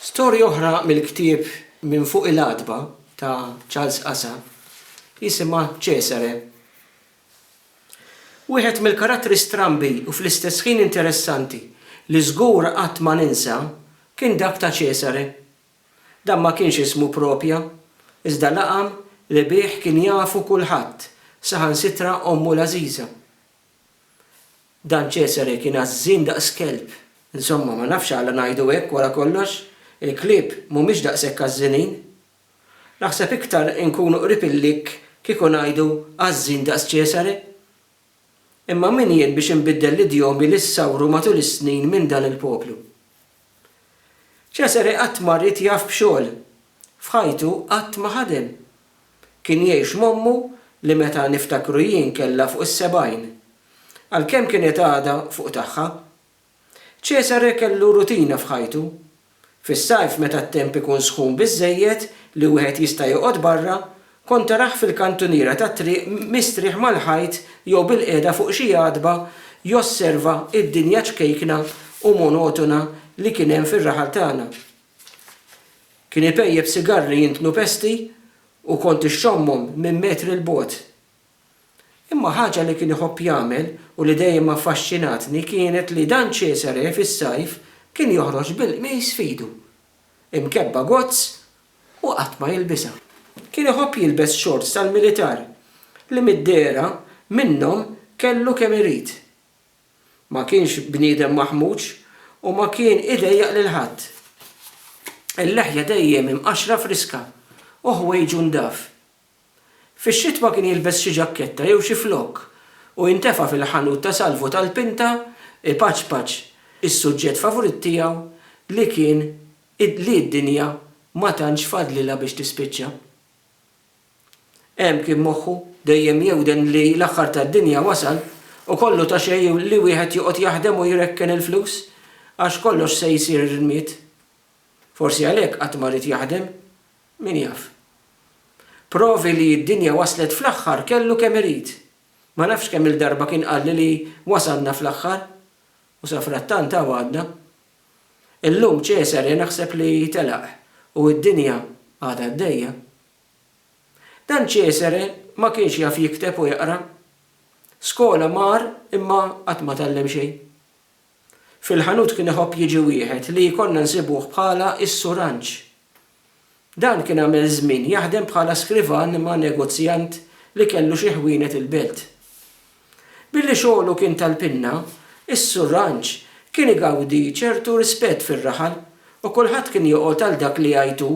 Storja oħra mill-ktieb Minn Fuq il-Għatba ta' Charles Asa jisimha Cesare. Wieħed mill-karattri strambi u fl-istess ħin interessanti li żgur qatt ma ninsa kien dak ta' Cesare. Dan ma kienx ismu proprja, iżda laqam li bih kien jafu kulħadd, saħansitra ommu l-għażiża. Dan Cesare kien għażżien daqs kelb. Insomma, ma nafx għala ngħidu hekk wara kollox, il-klieb mhumiex daqshekk għażżinin. Naħseb iktar inkunu qrib il-likk kieku ngħidu għażżin daqs Cesare. Imma min jien biex inbiddel l-idjomi li ssawru matul is-snin minn dan il-poplu. Cesare qatt ma ried jaf b'xogħol, F'ħajtu qatt ma ħadem. Kien jgħix m'ommu li meta niftakru jien kellha fuq is-sebgħin. Għalkemm kienet għadha fuq tagħha. Cesare kellu rutina f'ħajtu. Fis-sajf meta t-temp ikun sħun biżżejjed li wieħed jista' joqgħod barra, kont tarah fil-kantuniera tat-triq mistrieħ mal-ħajt jew bilqiegħda fuq xi għatba josserva d-dinja ċkejkna u monotona li kien hemm fir-raħal tagħna. Kien ipejjep sigarri jintnu pesti u kont ixxommhom minn metri 'l bogħod. Imma ħaġa li kien iħobb jagħmel u li dejjem affaxxinatni kienet li dan Cesare fis-sajf kien joħroġ bil-qmis f'idu, imkebba gozz u qatt ma jilbisha. Kien iħobb jilbes xorts tal-militar li mid-dehra minnhom kellu kemm irid. Ma kienx bniedem maħmuġ u ma kien idejjaq lil ħadd. Il-leħja dejjem imqaxxra friska u ħwejġu ndaf. Fix-xitwa kien jilbes xi ġakketta jew xi flokk u jintefa' fil-ħanut ta' salvu tal-pinta ipaċpaċ is-suġġett favurit tiegħu li kien li d-dinja ma tantx fadlilha biex tispiċċa. Hemm kien moħħu dejjem jewden li l-aħħar tad-dinja wasal u kollu ta' xejn li wieħed joqgħod jaħdem u jrekken il-flus għax kollox se jsir irmied. Forsi għalhekk qatt ma ried jaħdem. Min jaf. Provi li d-dinja waslet fl-aħħar kellu kemm irid. Ma nafx kemm-il darba kien qalli li wasalna fl-aħħar. U safrattant hawn għadna. Illum Ċesare naħseb li telaq u d-dinja għadha għaddejja. Dan Ċesare ma kienx jaf jikteb u jaqra. Skola mar imma qatt ma tgħallem xejn. Fil-ħanut kien iħobb jiġi wieħed li konna nsibuh bħala s-Sur Anġ, Dan kien għamel żmien jaħdem bħala skrivan ma' negozjant li kellu xi ħwienet il-Belt. Billi xogħlu kien tal-pinna, is-Sur Ranċ kien igawdi ċertu rispett fir-raħal u kulħadd kien joqgħod għal dak li jgħid hu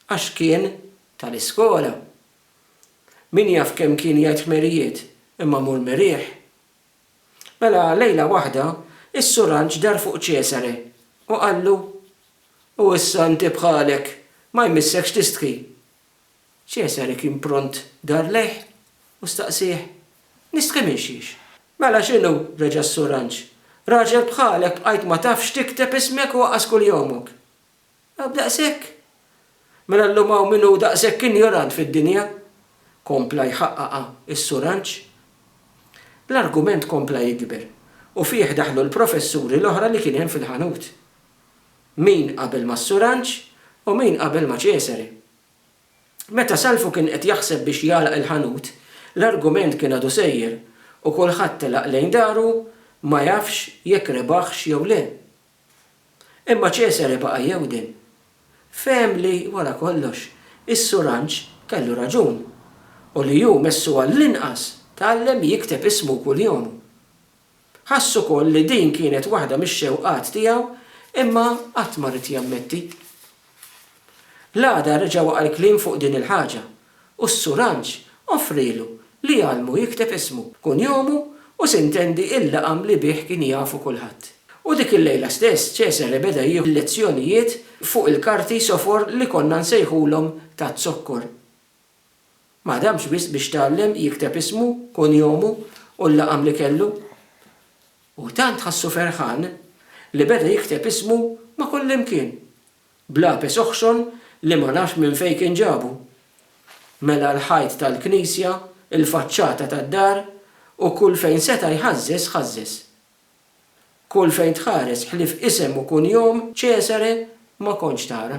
għax kien tal-iskola. Min jaf kemm kien jgħid ħmerijiet imma mur meriħ. Mela lejla waħda, is-suranġ dar fuq Ċesare u qallu, U issa inti bħalek, ma jmissekx tistħi. Ċesare kien pront dar lejh u staqsieh, Nistħi minn xiex? Mela x'inhu, reġa' s-suranġ, raġel bħalek bqajt ma tafx tikteb ismek u waqas kuljomok. Għad daqshekk? Mela llum hawn min hu daqshekk injorant fid-dinja? kompla jħaqqaqha s-Suranġ. L-argument kompla jikber u fih daħlu l-professuri l-oħra li kien hemm fil-ħanut. Min qabel mas-Suranġ u min qabel ma' Cesare. Meta Salvu kien qed jaħseb biex jagħlaq il-ħanut, l-argument kien għadu sejjer u kulħadd telaq lejn daru ma jafx jekk rebaħx jew le. Imma Ċesare baqa' jewden. Fehem li, wara kollox, is-suranġ kellu raġun, u li hu messu għall-inqas tgħallem jikteb ismu kull jom. Ħass ukoll li din kienet waħda mix-xewqat tiegħu imma qatt ma ried jammetti. L-għada reġa' waqa' l-kliem fuq din il-ħaġa u s-suranġ offrielu li jgħallmu jikteb ismu, kunjomu u sintendi il-laqam li bih kien jafu kulħadd. U dik il-lejla stess Cesare beda jieħu l-lezzjonijiet fuq il-karti sofor li konna nsejħulhom taz-zokkor. Ma ħdamx wisq biex tgħallem jikteb ismu, kunjomu u l-laqam li kellu. U tant ħassu ferħan li beda jikteb ismu ma' kullimkien. B'lapis oħxon li ma nafx minn fejn kien ġabu, mela l-ħajt tal-knisja, il-faċċata tad-dar u kull fejn seta' jħażżeż ħażżeż. Kull fejn tħares ħlief isem u kunjom Cesare ma kontx tara.